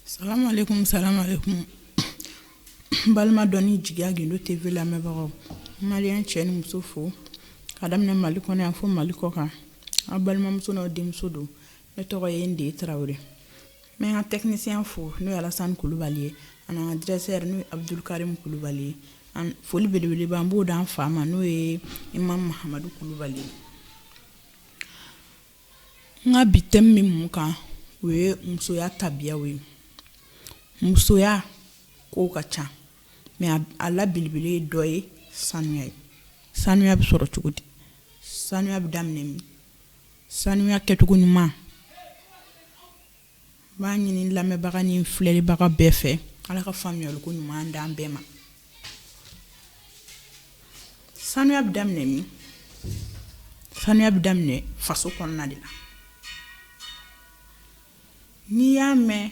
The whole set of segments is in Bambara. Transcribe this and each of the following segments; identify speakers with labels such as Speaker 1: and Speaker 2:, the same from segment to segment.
Speaker 1: Salamalekum salamalekum n balima dɔnni jigiya gindo TV lamɛnbagaw n maliyɛn cɛ ni muso fo ka daminɛ Mali kɔnɔ yan fo Mali kɔkan aw balimamuso n'aw denmuso don ne tɔgɔ ye de tarawele n bɛ n ka tɛkinisiyɛn fo n'o ye alasan kulubali ye ani n ka dirɛsɛri n'o ye abudu karimu kulubali ye foli belebeleba n b'o d'an fa ma n'o ye imamu mahamadu kulubali ye n ka bi tɛmu bɛ mun kan o ye musoya tabiya ye musoya ko ka ca mɛ a la belebele dɔ ye sanuya ye sanuya bɛ sɔrɔ cogo di sanuya bɛ daminɛ min Sanuya kɛcogo ɲuman n b'a ɲini lamɛnbaga ni filɛlibaga bɛɛ fɛ ala ka faamuyali ko ɲuman d'an bɛɛ ma sanuya bɛ daminɛ min sanuya bɛ daminɛ faso kɔnɔna de la n'i y'a mɛn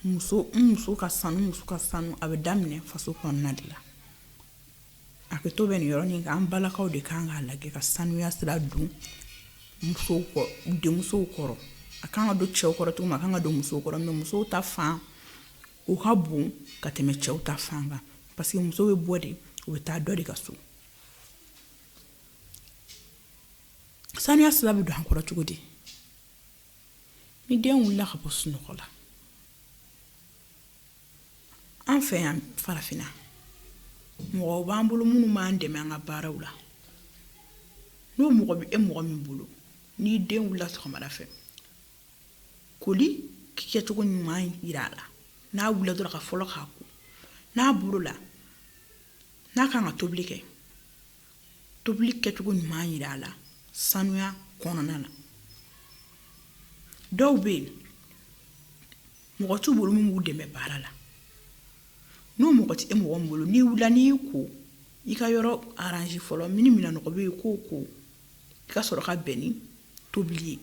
Speaker 1: muso muso ka sanu muso ka sanuya bɛ daminɛ faso kɔnɔna de la A kɛ to bɛ nin yɔrɔnin kan an balakaw de kan k'a lajɛ ka sanuya sira don musow denmusow kɔrɔ a kan ka don cɛw kɔrɔ cogo min a kan ka don musow kɔrɔ mɛ musow ta fan o ka bon ka tɛmɛ cɛw ta fan kan parce que muso bɛ bɔ de o bɛ taa dɔ de ka so sanuya sira bɛ don an kɔrɔ cogo di ni den wulila ka bɔ sunɔgɔ la an fɛ yan farafinna mɔgɔw b'an bolo minnu b'an dɛmɛ an ka baaraw la n'o mɔgɔ bɛ e mɔgɔ min bolo n'i den wulila sɔgɔmada fɛ koli kɛcogo ɲuman yira a la n'a wulila dɔrɔn ka fɔlɔ k'a ko n'a bɔra o la n'a kan ka tobili kɛ tobili kɛcogo ɲuman yira a la sanuya kɔnɔna na dɔw bɛ yen mɔgɔ t'u bolo min b'u dɛmɛ baara la n'o mɔgɔ tɛ e mɔgɔ min bolo n'i wulila n'i ko i ka yɔrɔ aranze fɔlɔ mini minɛn nɔgɔ bɛ yen k'o ko i ka sɔrɔ ka bɛn ni tobili ye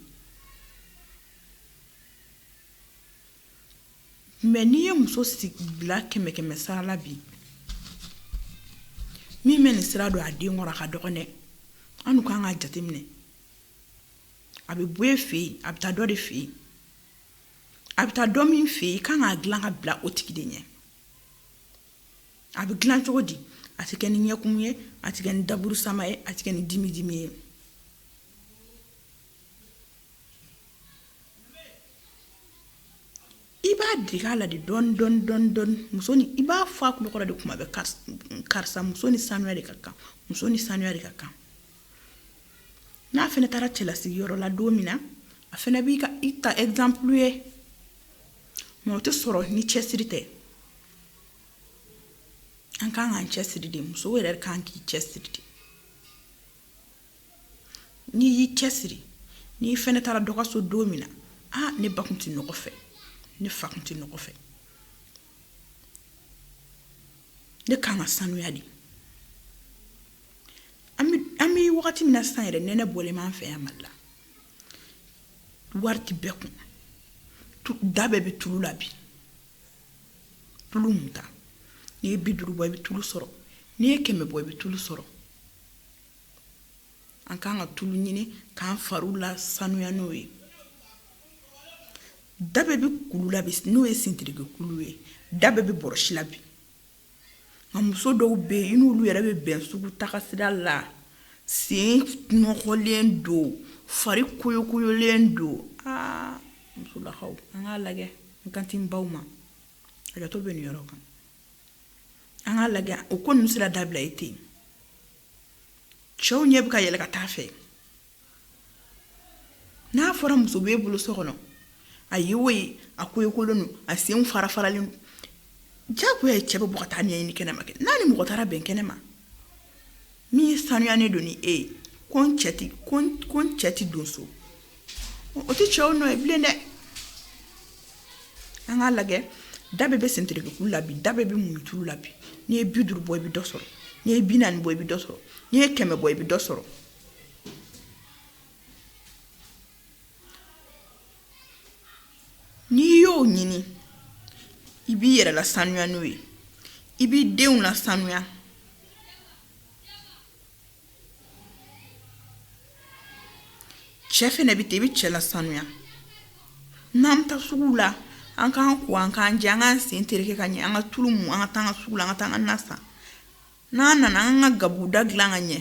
Speaker 1: mɛ n'i ye muso bila kɛmɛ kɛmɛ sara la bi min bɛ nin sira don a den kɔrɔ a ka dɔgɔn dɛ an dun kan k'a jateminɛ a bɛ bɔ e fɛ yen a bɛ taa dɔ de fɛ yen a bɛ taa dɔ min fɛ yen i kan k'a dilan ka bila o tigi de ɲɛ a bɛ dilan cogo di a tɛ kɛ ni ɲɛkumu ye a tɛ kɛ ni daburu sama ye a tɛ kɛ ni dimi dimi ye i b'a dege a la de dɔɔni dɔɔni dɔɔni dɔɔni muso ni i b'a fɔ a tulo kɔrɔ de kuma bɛɛ karisa muso ni sanuya de ka kan muso ni sanuya de ka kan n'a fana taara cɛlasigi yɔrɔ la don min na a fana b'i ta exemple ye mais o tɛ sɔrɔ ni cɛsiri tɛ an kan k'an cɛsiri de muso yɛrɛ kan k'i cɛsiri de n'i y'i cɛsiri n'i fana taara dɔ ka so don min na aa ne ba tun tɛ nɔgɔ fɛ ne fa tun tɛ nɔgɔ fɛ ne ka kan ka sanuya de an bɛ wagati min na san yɛrɛ nɛnɛ bɔlen b'an fɛ yan mali la wari tɛ bɛɛ kun da bɛɛ bɛ tulu la bi tulu munta n'i ye bi duuru bɔ i bɛ tulu sɔrɔ n'i ye kɛmɛ bɔ i bɛ tulu sɔrɔ an ka kan ka tulu ɲini k'an fari lasanuya n'o ye da bɛɛ bɛ kulu la bi n'o ye sintiriki kulu ye da bɛɛ bɛ bɔrɔsi la bi nka muso dɔw bɛ yen i n'olu yɛrɛ bɛ bɛn sugu tagasira la sen nɔgɔlen don fari koyokoyolen don aa musolakaw an k'a lajɛ n kan tɛ n baw ma hakɛto bɛ nin yɔrɔ kan an k'a lajɛ o ko ninnu sera dabila ye ten cɛw ɲɛ bɛ ka yɛlɛ ka taa a fɛ n'a fɔra muso b'e bolo so kɔnɔ a ye o ye a koyokolen don a sen farafaralen don jagoya ye cɛ bɛ bɔ ka taa ɲɛɲini kɛnɛma kɛ n'a ni mɔgɔ taara bɛn kɛnɛma Min sanuyalen don ni e ye ko cɛ tɛ don so o tɛ cɛw nɔ ye bilen dɛ an k'a lajɛ da bɛɛ bɛ sentiriki kulu la bi da bɛɛ bɛ muntulu la bi n'i ye bi duuru bɔ i bɛ dɔ sɔrɔ n'i ye bi naani bɔ i bɛ dɔ sɔrɔ n'i ye kɛmɛ bɔ i bɛ dɔ sɔrɔ n'i y'o ɲini i b'i yɛrɛ lasanuya n'o ye i b'i denw lasanuya cɛ fana bɛ ten i bɛ cɛ lasanuya n'an bɛ taa sugu la an k'an ko an k'an jɛ an k'an sen tereke ka ɲɛ an ka tulu mu an ka taa an ka sugu la an ka taa an ka na san n'an nana an ka gabuguda dilan ka ɲɛ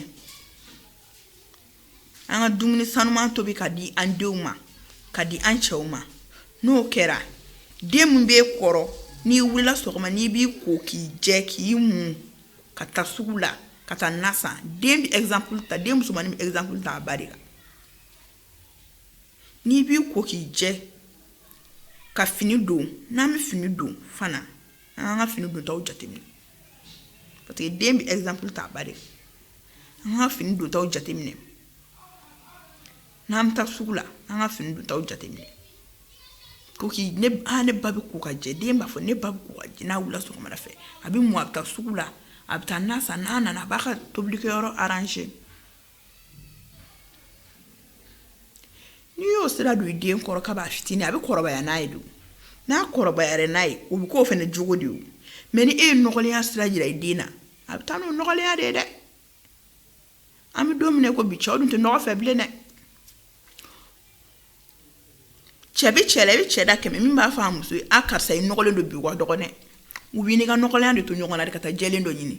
Speaker 1: an ka dumuni sanuman tobi ka di an denw ma ka di an cɛw ma n'o kɛra den min b'e kɔrɔ n'i wulila sɔgɔma n'i b'i ko k'i jɛ k'i mun ka taa sugu la ka taa na san den bɛ exemple ta den musomannin bɛ exemple ta a ba de la n'i b'i ko k'i jɛ ka fini don n'an bɛ fini don fana an k'an ka fini dontaw jateminɛ parce que den bɛ exemple ta a ba de an ka fini dontaw jateminɛ n'an bɛ taa sugu la an ka fini dontaw jateminɛ ko k'i ne ah ne ba bɛ ko ka jɛ den b'a fɔ ne ba bɛ ko ka jɛ n'a wulila sɔgɔmada fɛ a bɛ mu a bɛ taa sugu la a bɛ taa na san n'a nana a b'a ka tobilikɛyɔrɔ arranger n'i y'o sira don i den kɔrɔ ka b'a fitini a bɛ kɔrɔbaya n'a ye don n'a kɔrɔbayara n'a ye o bɛ k'o fana jogo de ye mais ni e ye nɔgɔlenya sira jira i den na a bɛ taa n'o nɔgɔlenya de ye dɛ an bɛ don min na ko bi cɛw dun tɛ nɔgɔ fɛ bilen dɛ cɛ bɛ cɛ la i bɛ cɛ da kɛmɛ min b'a fɔ a muso ye a karisa i nɔgɔlen don bi wa dɔgɔnɛ u b'i n'i ka nɔgɔlenya de to ɲɔgɔn na de ka taa jɛlen dɔ ɲini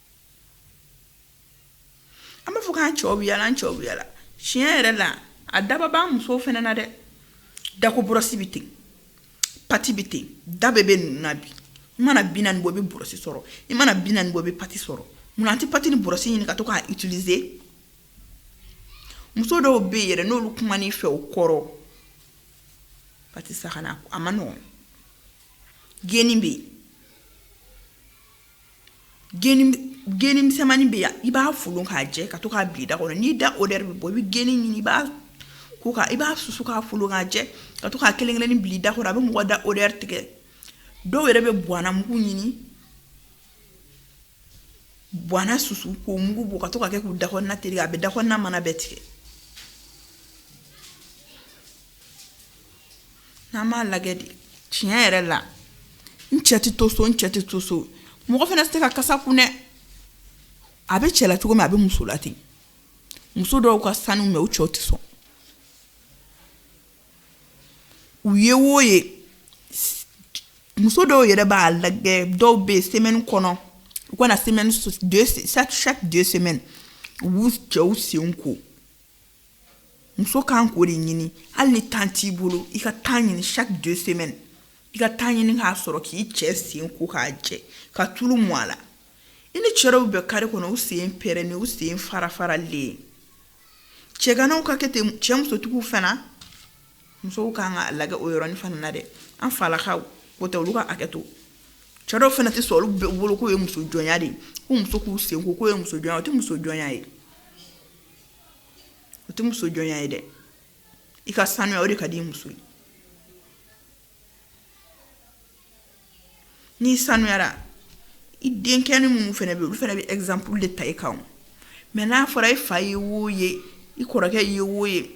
Speaker 1: an b'a fɔ k'an cɛw bɛ yala an cɛw bɛ yala tiɲɛ yɛrɛ la a daba b'an musow fana na dɛ dako bɔrɔsi bɛ ten pati bɛ ten da bɛɛ bɛ ninnu na bi i mana bi naani bɔ i bɛ bɔrɔsi sɔrɔ i mana bi naani bɔ i bɛ pati sɔrɔ munna an tɛ pati ni bɔrɔsi ɲini ka to k'a utiliser muso dɔw bɛ yen yɛrɛ n'olu kuman'i fɛ o kɔrɔ patisakana a man nɔgɔn geni bɛ yen geni misɛnmani bɛ yan i b'a folon k'a jɛ ka to k'a bil'i da kɔnɔ n'i da odeur bɛ bɔ i bɛ geni ɲini i b'a ko i b'a susu k'a folon k'a jɛ ka to k'a kelen kelennin bil'i da kɔnɔ a bɛ mɔgɔ da odeur tigɛ dɔw yɛrɛ bɛ buwana mugu ɲini buwana susu k'o mugu bɔ ka to ka kɛ k'u da kɔnɔna tereke a bɛ da kɔnɔna mana bɛɛ tigɛ n'an b'a lajɛ de tiɲɛ yɛrɛ la n cɛ tɛ to so n cɛ tɛ to so mɔgɔ fana tɛ se ka kasa kun dɛ a bɛ cɛ la cogo min a bɛ muso la ten muso dɔw ka sanu mais u cɛw tɛ sɔn u ye wo ye muso dɔw yɛrɛ b'a lajɛ dɔw bɛ yen semaine kɔnɔ u kana semaine chaque deux semaines u b'u cɛw sen ko muso kan k'o de ɲini hali ni temps t'i bolo i ka temps ɲini chaque deux semaines i ka temps ɲini k'a sɔrɔ k'i cɛ sen ko k'a jɛ ka tulu mu a la i ni cɛ dɔw bɛ kare kɔnɔ u sen pɛrɛnnen u sen farafaralen cɛganaw ka kɛ ten cɛ musotigiw fana musow kan ka lajɛ o yɔrɔnin fana na dɛ an falakaw o tɛ olu ka hakɛ to cɛ dɔw fana tɛ sɔn olu bɛɛ bolo k'o ye muso jɔnya de ye ko muso k'u sen ko k'o ye muso jɔnya o tɛ muso jɔnya ye o tɛ muso jɔnya ye dɛ i ka sanuya o de ka di muso ye n'i sanuyara i denkɛnin minnu fana bɛ olu fana bɛ exemple de ta i kan mais n'a fɔra i fa ye wo ye i kɔrɔkɛ ye wo ye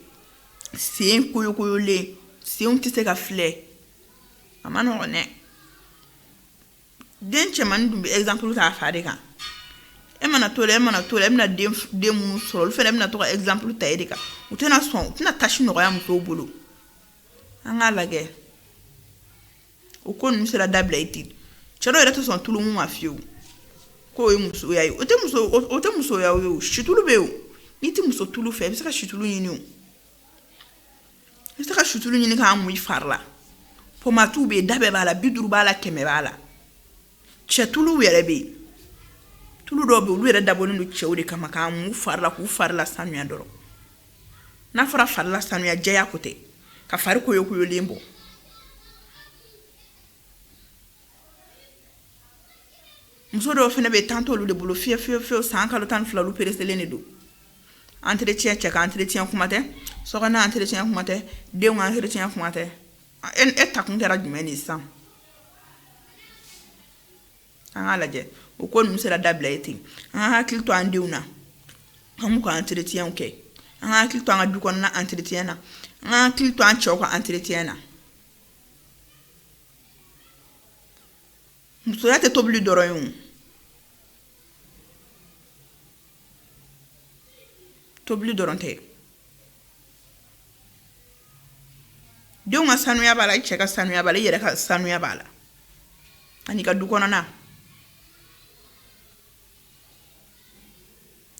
Speaker 1: sen koyokoyolen senw tɛ se ka filɛ a man nɔgɔn dɛ den cɛmannin dun bɛ exemple ta a fa de kan e mana to la e mana to la e bɛna den den minnu sɔrɔ olu fana bɛna to ka exemple ta e de kan u tɛna sɔn u tɛna tâche nɔgɔya musow bolo an k'a lajɛ o ko ninnu sera dabila ye ten cɛ dɔw yɛrɛ tɛ sɔn tulu mun ma fiyewu k'o ye musoya ye o tɛ muso o tɛ musoya ye o situlu bɛ yen o n'i tɛ muso tulu fɛ i bɛ se ka situlu ɲini o i bɛ se ka situlu ɲini k'a mun i fari la pomatiw bɛ yen da bɛɛ b'a la bi duuru b'a la kɛmɛ b'a la cɛ tuluw yɛrɛ bɛ yen tulu dɔw bɛ yen olu yɛrɛ dabɔlen don cɛw de kama k'a mun fari la k'u fari la sanuya dɔrɔn n'a fɔra fari la sanuya jɛya ko tɛ ka fari koyokoyolen bɔ muso dɔw fana bɛ temps t'olu de bolo fiyewu fiyewu san kalo tan fila olu pereselen de don entretien cɛ ka entretien kuma tɛ so entretien kuma tɛ denw ka entretien kuma tɛ e ta kun kɛra jumɛn de sisan an k'a lajɛ o ko ninnu sera dabila ye ten an ka hakili to an denw na an k'u ka entretien kɛ an ka hakili to an ka du kɔnɔna entretien na an ka hakili to an cɛw ka entretien na musoya tɛ tobili dɔrɔn ye o tobili dɔrɔn tɛ denw ka sanuya b'a la i cɛ ka sanuya b'a la i yɛrɛ ka sanuya b'a la ani ka du kɔnɔna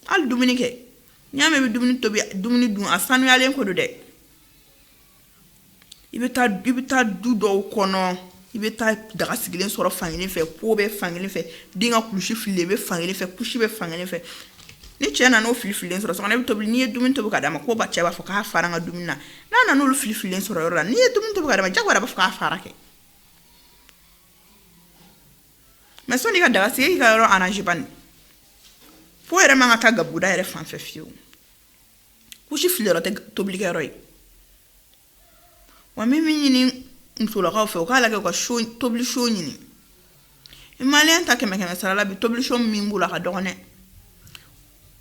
Speaker 1: hali dumuni kɛ n'i y'a mɛn i bɛ dumuni tobi dumuni dun a sanuyalen ko don dɛ i bɛ taa i bɛ taa du dɔw kɔnɔ i bɛ taa daga sigilen sɔrɔ fankelen fɛ po bɛ fankelen fɛ den ka kulusi fililen bɛ fankelen fɛ kusi bɛ fankelen fɛ ni cɛ nana o filifililen sɔrɔ i bɛ tobili n'i ye dumuni tobi k'a d'a ma ko ba cɛ b'a fɔ k'a fara ka dumuni na n'a nana olu filifililen sɔrɔ yɔrɔ la n'i ye dumuni tobi k'a d'a ma jagoya b'a fɔ k'a fara kɛ mais sanni i ka daga sigi i ka yɔrɔ arranger po yɛrɛ man ka taa gabuguda yɛrɛ fan fɛ fiyewu kusi filiyɔrɔ tɛ tobilikɛyɔrɔ ye wa min bɛ ɲini musolakaw fɛ u k'a lajɛ u ka so tobili so ɲini i maliyɛn ta kɛmɛ kɛmɛ sara la bi tobili so min b'u la ka dɔgɔn dɛ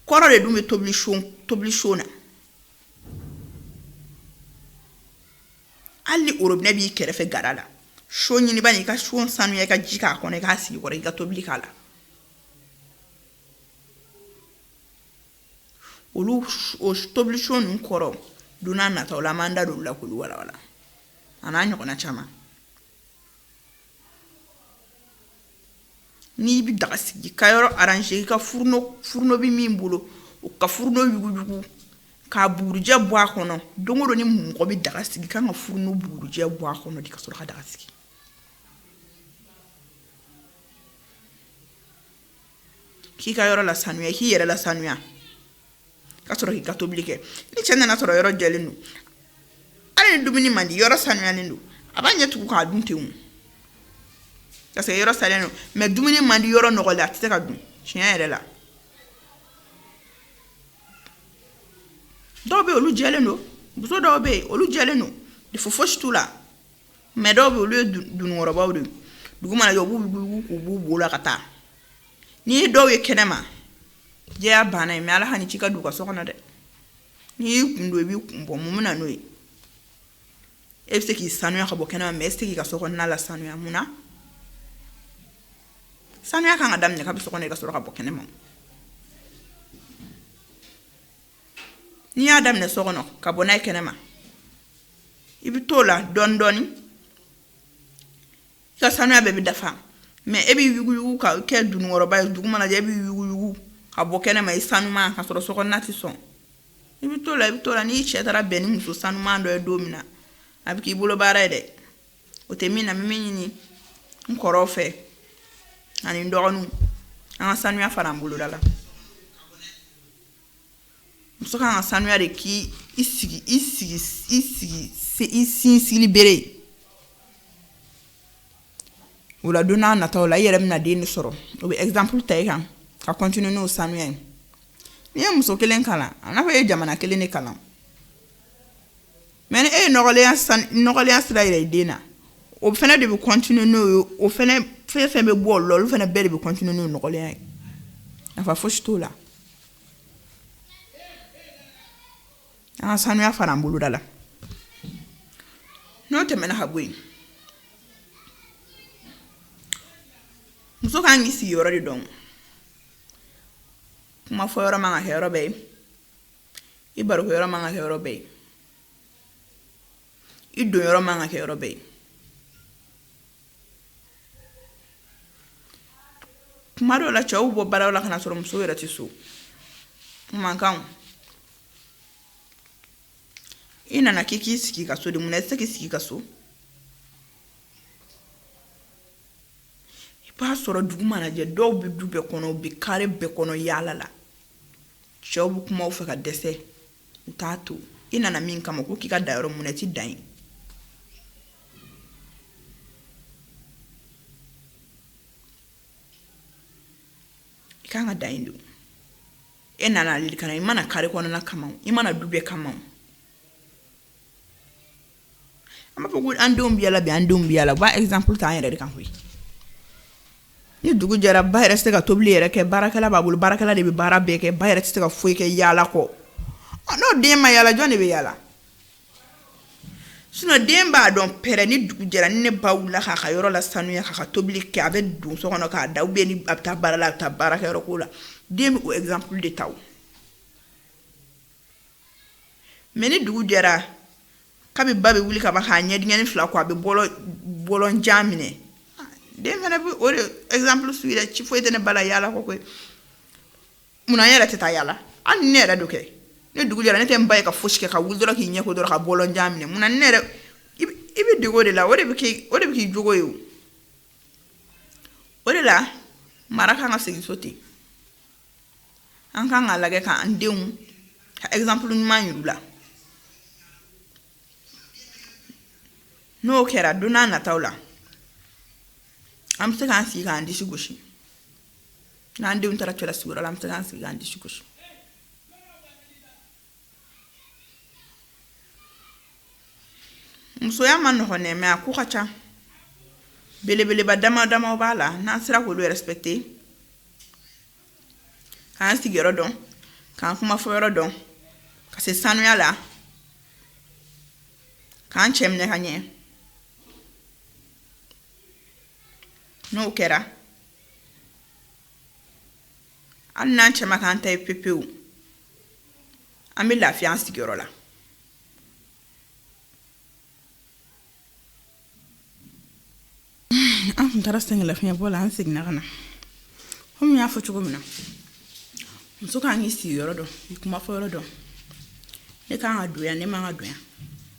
Speaker 1: kɔrɔ de dun bɛ tobili so tobili so na hali ni orobinɛ b'i kɛrɛfɛ gada la so ɲini bani i ka so sanuya i ka ji k'a kɔnɔ i k'a sigi i kɔrɔ i ka tobili k'a la olu o tobilisɔn ninnu kɔrɔ don n'a nataw la an b'an da don olu la k'olu walawala a n'a ɲɔgɔnna caman n'i bɛ daga sigi ka yɔrɔ arranger i ka furno furno bɛ min bolo o ka furno yuguyugu k'a bugurijɛ bɔ a kɔnɔ don o don ni mɔgɔ bɛ daga sigi kan ka furno bugurijɛ bɔ a kɔnɔ de ka sɔrɔ ka daga sigi k'i ka yɔrɔ la sanuya k'i yɛrɛ la sanuya ka sɔrɔ k'i ka tobili kɛ ni cɛ nana sɔrɔ yɔrɔ jɛlen don hali ni dumuni man di yɔrɔ sanuyalen don a b'a ɲɛ tugu k'a dun ten parce que yɔrɔ sanuyalen don mais dumuni man di yɔrɔ nɔgɔlen a tɛ se k'a dun tiɲɛ yɛrɛ la dɔw bɛ yen olu jɛlen don muso dɔw bɛ yen olu jɛlen don de fo fosi t'u la mais dɔw bɛ yen olu ye dununkɔrɔbaw de ye dugu mana jɛ u b'u b'u la ka taa n'i ye dɔw ye kɛnɛ ma jɛya banna ye mais ala kan'i ci ka don u ka so kɔnɔ dɛ n'i y'i kun don i b'i kun bɔ mun bɛ na n'o ye e bɛ se k'i sanuya ka bɔ kɛnɛ ma mais e tɛ se k'i ka so kɔnɔna la sanuya mun na sanuya kan ka daminɛ ka bɔ so kɔnɔ i ka sɔrɔ ka bɔ kɛnɛ ma n'i y'a daminɛ so kɔnɔ ka bɔ n'a ye kɛnɛma i bɛ t'o la dɔɔni dɔɔni i ka sanuya bɛɛ bɛ dafa mais e b'i yuguyugu ka kɛ dununkɔrɔba ye dugu mana jɛ e b'i yuguyugu ka bɔ kɛnɛma i sanuman ka sɔrɔ so kɔnɔna tɛ sɔn i bɛ t'o la i bɛ t'o la n'i cɛ taara bɛn ni muso sanuman dɔ ye don min na a bɛ k'i bolo baara ye dɛ o tuma na n bɛ min ɲini n kɔrɔw fɛ ani n dɔgɔninw an ka sanuya fara an boloda la muso kan ka sanuya de k'i sigi i sigi i sigi se i sinsinbere o la don n'a nataw la i yɛrɛ bɛna den de sɔrɔ o bɛ exemple ta i kan ka continuer n'o sanuya ye n'i ye muso kelen kalan a n'a fɔ e ye jamana kelen de kalan mais ni e ye nɔgɔlenya sira yira i den na o fana de bɛ continuer n'o ye o fɛn fɛn bɛ bɔ o la olu fana bɛɛ de bɛ continuer n'o nɔgɔlenya ye nafa foyi si t'o la an ka sanuya fara an boloda la n'o tɛmɛna ka bɔ yen muso ka kan k'i sigi yɔrɔ de dɔn kuma fɔ yɔrɔ man ka kɛ yɔrɔ bɛɛ ye i barokɛ yɔrɔ man ka kɛ yɔrɔ bɛɛ ye i don yɔrɔ man ka kɛ yɔrɔ bɛɛ ye kuma dɔw la cɛw bɛ bɔ baaraw la ka na sɔrɔ muso yɛrɛ tɛ so man kan i nana k'i k'i sigi ka so de mun na i tɛ se k'i sigi ka so i b'a sɔrɔ dugu mana jɛ dɔw bɛ du bɛɛ kɔnɔ u bɛ kare bɛɛ kɔnɔ yaala la cɛw bɛ kuma u fɛ ka dɛsɛ u t'a to i nana min kama ko k'i ka da yɔrɔ mun na i tɛ dan yen i kan ka dan yen de e nana ale kama i ma na kare kɔnɔna kama i ma na du bɛɛ kama an b'a fɔ ko an denw bɛ yaala bi an denw bɛ yaala u b'a exemple ta an yɛrɛ de kan koyi ni dugu jɛra ba yɛrɛ tɛ se ka tobili yɛrɛ kɛ baarakɛla b'a bolo baarakɛla de bɛ baara bɛɛ kɛ ba yɛrɛ tɛ se ka foyi kɛ yaala kɔ n'o den ma yaala jɔn de bɛ yaala sinon den b'a dɔn pɛrɛ ni dugu jɛra ni ne ba wulila k'a ka yɔrɔ lasanuya k'a ka tobili kɛ a bɛ don so kɔnɔ k'a da ou bien ni a bɛ taa baara la a bɛ taa baarakɛyɔrɔ ko la den bɛ o exemple de ta o mais ni dugu jɛra kabi ba bɛ wuli ka ban k'a ɲɛdennin fila ko a bɛ bɔlɔn jan minɛ den fana bɛ o de exemple suivre ci foyi tɛ ne ba la yaala kɔ koyi munna n yɛrɛ tɛ taa yaala hali ne yɛrɛ dɔ kɛ ni dugu jɛra ne tɛ n ba ye ka fosi kɛ ka wuli dɔrɔn k'i ɲɛ ko dɔrɔn ka bɔlɔn jan minɛ munna ne yɛrɛ i bɛ dege o de la o de bɛ k'i jogo ye o de la mara ka kan ka segin so ten an kan k'a lajɛ k'an denw ka exemple ɲuman yir'u la n'o kɛra don n'a nataw la an bɛ se k'an sigi k'an disi gosi n'an denw taara cɛlasigiyɔrɔ la an bɛ se k'an sigi k'an disi gosi musoya ma nɔgɔn dɛ mais a ko ka ca belebeleba dama dama b'a la n'an sera k'olu respecter k'an sigiyɔrɔ dɔn k'an kumafɔyɔrɔ dɔn ka se sanuya la k'an cɛ minɛ ka ɲɛ n'o kɛra hali n'an cɛ ma k'an ta ye pepewu an bɛ lafiya an sigiyɔrɔ la an tun taara sɛgɛnlafiɲɛbɔ la an seginna ka na komi n y'a fɔ cogo min na muso kan k'i sigiyɔrɔ dɔn i kumafɔyɔrɔ dɔn ne kan ka don yan ne man ka don yan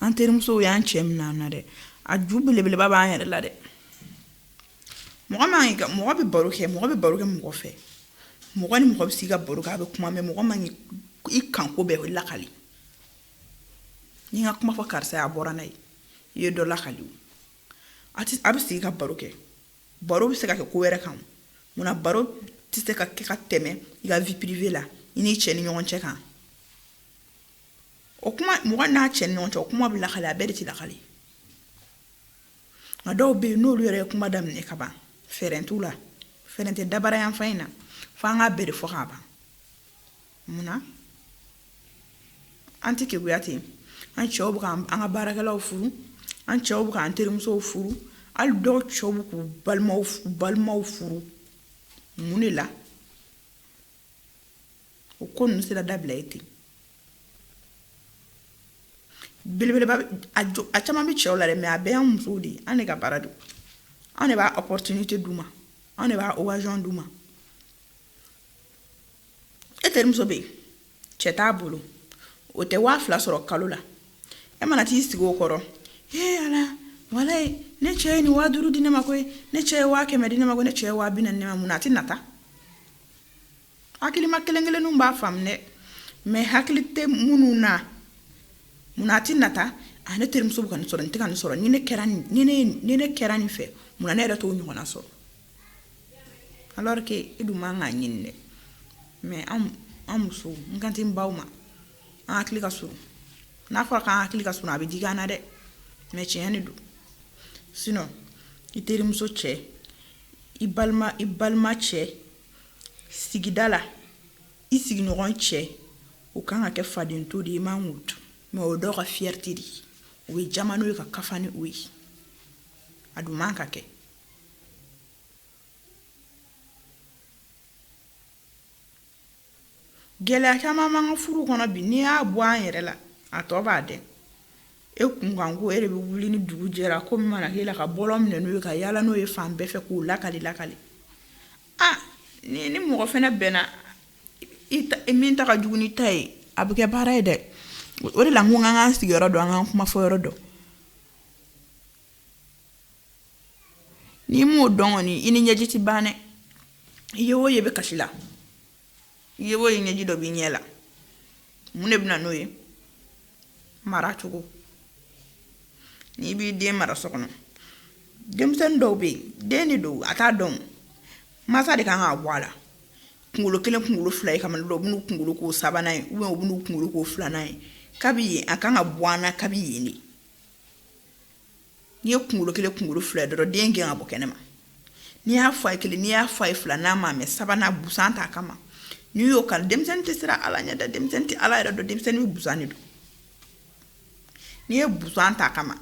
Speaker 1: an terimusow y'an cɛ minɛ an na dɛ a ju belebeleba b'an yɛrɛ la dɛ mɔgɔ man ka mɔgɔ bɛ baro kɛ mɔgɔ bɛ baro kɛ mɔgɔ fɛ mɔgɔ ni mɔgɔ bɛ se ka baro kɛ a bɛ kuma mais mɔgɔ man k'i ka ko bɛɛ o lakali n'i ka kuma fɔ karisa a bɔra n'a ye i ye dɔ lakali a bɛ sigi ka baro kɛ baro bɛ se ka kɛ ko wɛrɛ kan munna baro tɛ se ka kɛ ka tɛmɛ i ka vie privée la i n'i cɛ ni ɲɔgɔn cɛ kan o kuma mɔgɔ n'a cɛ ni ɲɔgɔn cɛ o kuma bɛ lakali a bɛɛ de tɛ lakali nka dɔw bɛ yen n'olu yɛrɛ ye kuma daminɛ ka ban fɛɛrɛ t'u la fɛɛrɛ tɛ dabara yan fan in na fo an k'a bɛɛ de fɔ k'a ban mun na an tɛ keguya ten an cɛw bɛ k'an an ka baarakɛlaw furu an cɛw bɛ k'an terimusow furu hali dɔw cɛw bɛ k'u balimaw balimaw furu mun de la o ko ninnu sera dabila ye ten belebeleba a caman bɛ cɛw la dɛ mais a bɛɛ y'an musow de ye an de ka baara don anw de b'a opportunité d'u ma anw de b'a occasion d'u ma e terimuso bɛ yen cɛ t'a bolo o tɛ waa fila sɔrɔ kalo la e mana t'i sigi o kɔrɔ ee ala walayi ne cɛ ye nin waa duuru di ne ma koyi ne cɛ ye waa kɛmɛ di ne ma ko ne cɛ ye waa bi naani di ne ma mun na a tɛ nata hakilima kelen kelenninw b'a faamu dɛ mais hakili tɛ minnu na munna a tɛ nata a ne terimuso bɛ ka nin sɔrɔ n tɛ ka nin sɔrɔ ni ne kɛra nin ni ne ye- ni ne kɛra nin fɛ munna ne yɛrɛ t'o ɲɔgɔnna sɔrɔ alors que e dun man k'a ɲini dɛ mais an an musow n kan tɛ n baw ma an hakili ka surun n'a fɔra k'an hakili ka surun a bɛ digi an na dɛ mais tiɲɛ de don sinon i terimuso cɛ i balima i balima cɛ sigida la i sigiɲɔgɔn cɛ o kan ka kɛ faden to de ye i man k'o dun mais o dɔw ka fierté de ye o bɛ jaman n'o ye ka kafa ni o ye a dun man ka kɛ gɛlɛya caman b'an ka furu kɔnɔ bi n'i y'a bɔ an yɛrɛ la a tɔ b'a dɛ E kunkanko e de bɛ wuli ni dugu jɛra ko min mana k'e la ka bɔlɔn minɛ n'o ye ka yaala n'o ye fan bɛɛ fɛ k'o lakali lakali aa ni ni mɔgɔ fɛnɛ bɛnna min ta ka jugu n'i ta ye a bɛ kɛ baara ye dɛ o de la n ko an ka sigiyɔrɔ dɔn an ka kuma fɔ yɔrɔ dɔn n'i m'o dɔn kɔni i ni ɲɛji tɛ ban dɛ i ye o ye i bɛ kasi la I ye o ye ɲɛji dɔ b'i ɲɛ la mun de bɛna n'o ye mara cogo n'i b'i den mara so kɔnɔ denmisɛnnin dɔw bɛ yen den de don a t'a dɔn mansa de kan k'a bɔ a la kunkolo kelen kunkolo fila ye kaban dɔw b'u kunkolo k'o sabanan ye u b'u kunkolo k'o filanan ye kabi yen a kan ka bɔ a na kabi yen de n'i ye kunkolo kelen kunkolo fila dɔrɔn den gɛn ka bɔ kɛnɛ ma n'i y'a fɔ a ye kelen n'i y'a fɔ a ye fila n'a ma mɛ sabanan busan t'a kama n'i y'o k'a la denmisɛnnin tɛ siran ala ɲɛ dɛ denmisɛnnin tɛ ala yɛrɛ dɔn denmisɛnnin bɛ busan de don n'i ye busan t'a kama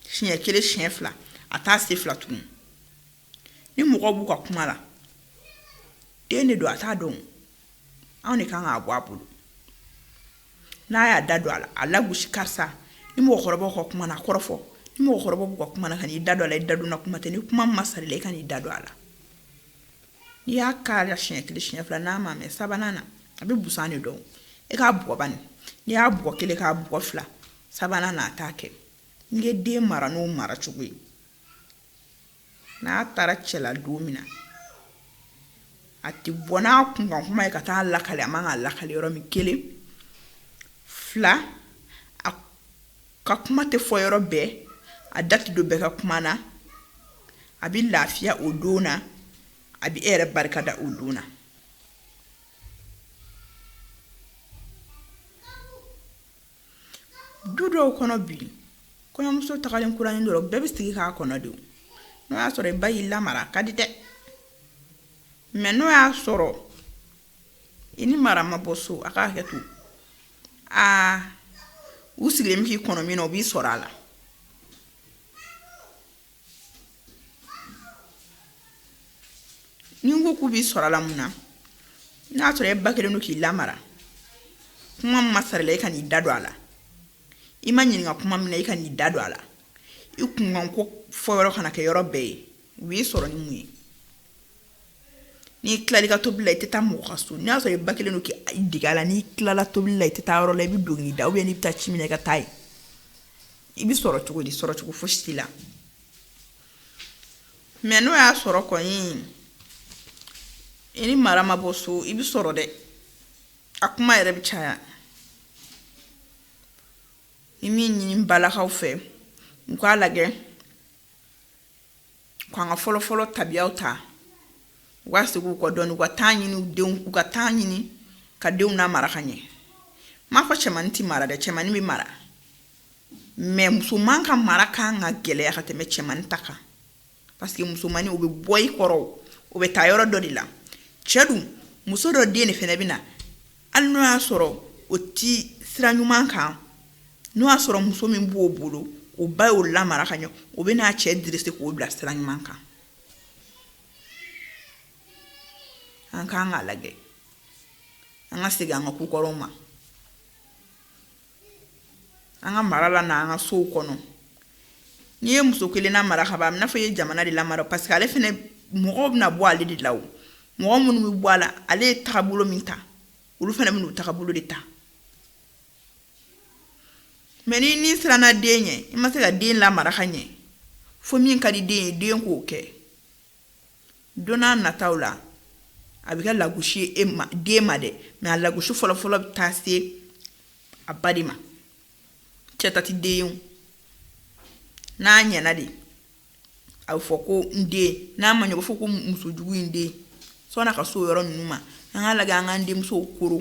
Speaker 1: siɲɛ kelen siɲɛ fila a t'a se fila tuguni ni mɔgɔ b'u ka kuma la den de don a t'a dɔn anw de kan k'a bɔ a bolo n'a y'a da don a la a gosi karisa ni mɔgɔkɔrɔba ka kuma na kɔrɔfɔ ni mɔgɔkɔrɔba b'u ka kuma na kan'i da don a la i da donna kuma tɛ ni kuma ma sara i la kan'i da don a la n'i y'a k'a la siɲɛ kelen siɲɛ fila n'a ma mɛ sabanan na a bɛ busan de dɔn e k'a bugɔ ba n'i y'a bugɔ kelen k'a bugɔ fila sabanan na a t'a kɛ n ye den mara n'o mara cogo ye n'a taara cɛla don min na a tɛ bɔ n'a kunkan kuma ye ka taa lakale a man ka lakale yɔrɔ min kelen fila a ka kuma tɛ fɔ yɔrɔ bɛɛ a da tɛ don bɛɛ ka kuma na a bɛ lafiya o don na a bɛ e yɛrɛ barika da o don na du dɔw kɔnɔ bi kɔɲɔmuso tagalen kuranin dɔrɔn bɛɛ bɛ sigi k'a kɔnɔ dɛ n'o y'a sɔrɔ i ba y'i lamara ka di dɛ mɛ n'o y'a sɔrɔ i ni mara ma bɔ so a k'a hakɛ to aa u sigilen bɛ k'i kɔnɔ min na u b'i sɔrɔ a la ne ko k'u b'i sɔrɔ a la mun na n'a sɔrɔ e ba kɛlen don k'i lamara kuma ma sara i la i kan'i da don a la i ma ɲininka kuma min na i kan'i da don a la i kunkan ko fɔ yɔrɔ kana kɛ yɔrɔ bɛɛ ye u b'i sɔrɔ ni mun ye n'i tilal'i ka tobili la i tɛ taa mɔgɔ ka so n'a sɔrɔ i ba kɛlen don k'i dege a la n'i tilala tobili la i tɛ taa yɔrɔ la i bɛ don k'i da ou bien n'i bɛ taa ci min na i ka taa yen i bɛ sɔrɔ cogo di sɔrɔ cogo fosi t'i la mɛ n'o y'a sɔrɔ kɔni i ni mara ma bɔ so i bɛ sɔrɔ dɛ a kuma yɛrɛ bɛ caya n bɛ min ɲini n balakaw fɛ u k'a lajɛ k'an ka fɔlɔfɔlɔ tabiyaw ta u ka segin u kɔ dɔɔnin u ka taa ɲini u denw u ka taa ɲini ka denw namara ka ɲɛ n m'a fɔ cɛmannin tɛ mara dɛ cɛmannin bɛ mara mɛ musoman ka mara kan ka gɛlɛya ka tɛmɛ cɛmannin ta kan parce que musomannin o bɛ bɔ i kɔrɔ o bɛ taa yɔrɔ dɔ de la cɛ dun muso dɔ den de fana bɛ na hali n'o y'a sɔrɔ o tɛ sira ɲuman kan n'o y'a sɔrɔ muso min b'o bolo o ba y'o lamara ka ɲɛ o bɛ n'a cɛ dresser k'o bila sira ɲuman kan an kan k'a lajɛ an ka segin an ka kokɔrɔw ma an ka mara la n'an ka sow kɔnɔ n'i ye muso kelen namara k'a b'i n'a fɔ i ye jamana de lamara parce que ale fana mɔgɔw bɛna bɔ ale de la o mɔgɔ minnu bɛ bɔ a la ale ye tagabolo min ta olu fana bɛna tagabolo de ta mɛ ni n'i siranna den ɲɛ i ma se ka den lamara ka ɲɛ fo min ka di den ye den k'o kɛ don n'a nataw la a bɛ kɛ lagosi e ma den ma dɛ mɛ a lagosi fɔlɔfɔlɔ bɛ taa se a ba de ma cɛ ta tɛ den n'a ɲɛna de a bɛ fɔ ko n den n'a ma ɲɛ o b'a fɔ ko musojugu in de sɔnna a ka s'o yɔrɔ ninnu ma an ka lajɛ an ka denmusow koro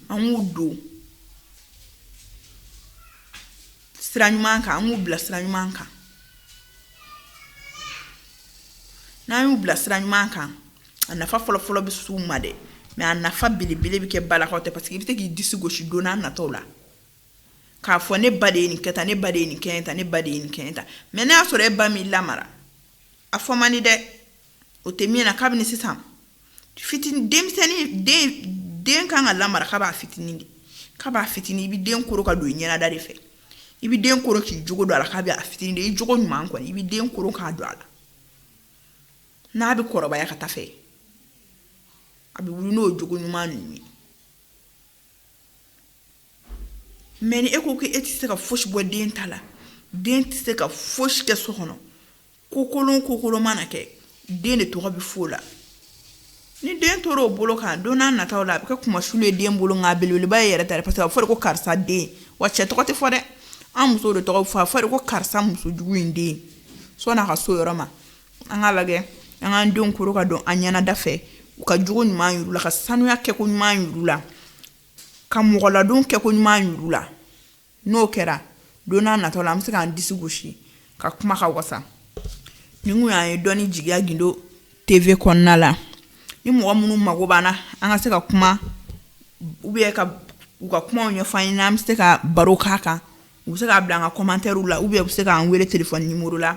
Speaker 1: an k'u don sira ɲuman kan an k'u bila sira ɲuman kan n'an y'u bila sira ɲuman kan a nafa fɔlɔfɔlɔ bɛ s'u ma dɛ mɛ a nafa belebele bɛ kɛ ba la ko tɛ parce que i bɛ se k'i disi gosi don n'a natɔw la k'a fɔ ne ba de ye nin kɛ tan ne ba de ye nin kɛ tan ne ba de ye nin kɛ tan mɛ n'a y'a sɔrɔ e ba m'i lamara a fɔ man di dɛ o tɛmɛna kabini sisan fitinin denmisɛnnin den den kan ka lamara ka b'a fitinin de ka b'a fitinin i bɛ den koro ka don i ɲɛnada de fɛ i bɛ den koro k'i jogo don a la ka b'a fitinin de i jogo ɲuman kɔni i bɛ den koro k'a don a la n'a bɛ kɔrɔbaya ka taa fɛ a bɛ wuli n'o jogo ɲuman ninnu ye mɛ ni e ko ko e tɛ se ka fosi bɔ den ta la den tɛ se ka fosi kɛ so kɔnɔ ko kolon ko kolon mana kɛ den de tɔgɔ bɛ f'o la ni den tora o bolo kan don n'a nataw la a bɛ kɛ kunmasuli ye den bolo nka belebeleba y'i yɛrɛ ta de parce que a fɔra ko karisa den wa cɛ tɔgɔ tɛ fɔ dɛ an muso de tɔgɔ fɔ a fɔra ko karisa muso jugu in de sɔnna a ka s'o yɔrɔ ma an ka lajɛ an k'an denw koro ka don an ɲɛnada fɛ u ka jogo ɲuman yira u la ka sanuya kɛko ɲuman yira u la ka mɔgɔladon kɛko ɲuman yira u la n'o kɛra don n'a natɔ la an bɛ se k'an disi gosi ka kuma ka wasa nin kun y'an ye dɔnni jigiya gindo TV kɔnɔna la ni mɔgɔ minnu mago b'an na an ka se ka kuma u bɛ ka u ka kuma ɲɛfɔ an ye n'an bɛ se ka baro k'a kan u bɛ se k'a bila an ka kɔmantɛriw la u bɛ bɛ se k'an weele telefɔni nimɔrɔ la